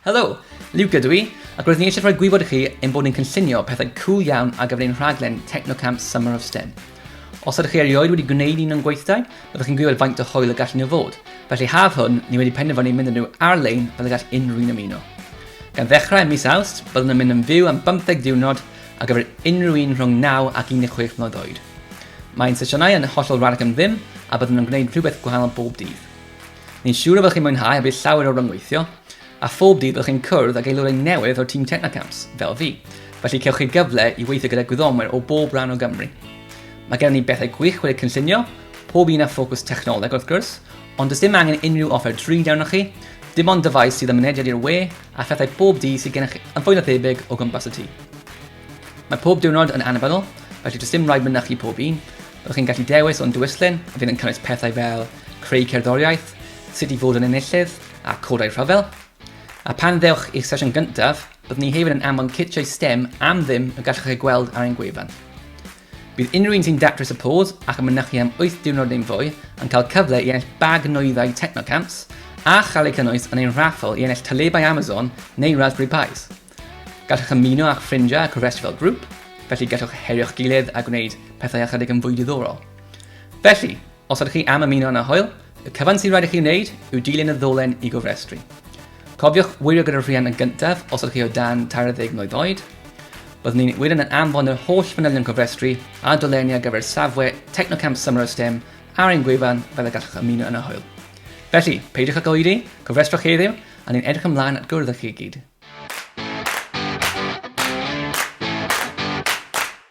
Helo, Luca dwi, ac roedd ni eisiau rhoi gwybod i chi ein bod ni'n cynllunio pethau cool iawn ar gyfer ein rhaglen Technocamp Summer of STEM. Os ydych chi erioed wedi gwneud un o'n gweithdai, byddwch chi'n gwybod faint o hwyl y gallen nhw fod. Felly haf hwn, ni wedi penderfynu mynd â nhw ar-lein fel y gall unrhyw'n ymuno. Gan ddechrau ym mis Awst, byddwn yn mynd yn fyw am 15 diwrnod ar gyfer unrhyw un rhwng 9 ac 16 mlynedd oed. Mae'n sesiynau yn hollol rhad ac am ddim a byddwn yn gwneud rhywbeth gwahanol bob dydd. Ni'n siŵr y byddwch chi'n mwynhau a bydd llawer o ryngweithio, a phob dydd byddwch chi'n cwrdd ag aelodau newydd o'r tîm Technacamps, fel fi, felly cewch chi gyfle i weithio gyda gwyddonwyr o bob rhan o Gymru. Mae gennym ni bethau gwych wedi'u cynllunio, pob un â ffocws technoleg wrth gwrs, ond does dim angen unrhyw offer drud arnoch chi, dim ond dyfais sydd â mynediad i'r we a phethau bob dydd sydd gennych chi, yn fwy na thebyg o gwmpas y tŷ. Mae pob diwrnod yn annibynnol, felly does dim rhaid mynychu pob un. Byddwch chi'n gallu dewis o'n dwyslyn a fydd yn cynnwys pethau fel creu cerddoriaeth, sut i fod yn enillydd a codau rhyfel. A pan ddewch i'r sesiwn gyntaf, byddwn ni hefyd yn anfon citiau STEM am ddim y gallwch ei gweld ar ein gwefan. Bydd unrhyw un sy'n datrys y pos ac yn mynychu am wyth diwrnod neu'n fwy yn cael cyfle i ennill bag nwyddau Technocamps a chael eu cynnwys yn ein raffl i ennill talebau Amazon neu Raspberry Pis. Gallwch ymuno â'ch ffrindiau a cofrestru fel grŵp, felly gallwch herio'ch gilydd a gwneud pethau ychydig yn fwy diddorol. Felly, Os ydych chi am ymuno â Hwyl, y cyfan sy'n rhaid i chi wneud yw dilyn y ddolen i gofrestru. Cofiwch wirio gyda'r rhiant yn gyntaf os ydych chi o dan 60 mlwydd oed. Byddwn ni'n wirio'n yn anfon yr holl fanylion cofrestru a dolenni ar gyfer safle Technocamp Summer of STEM ar ein gwefan fel y gallwch ymuno yn y Hwyl. Felly, peidiwch ag oedi, cofrestrwch heddiw, a ni'n edrych ymlaen at gwrdd â chi gyd.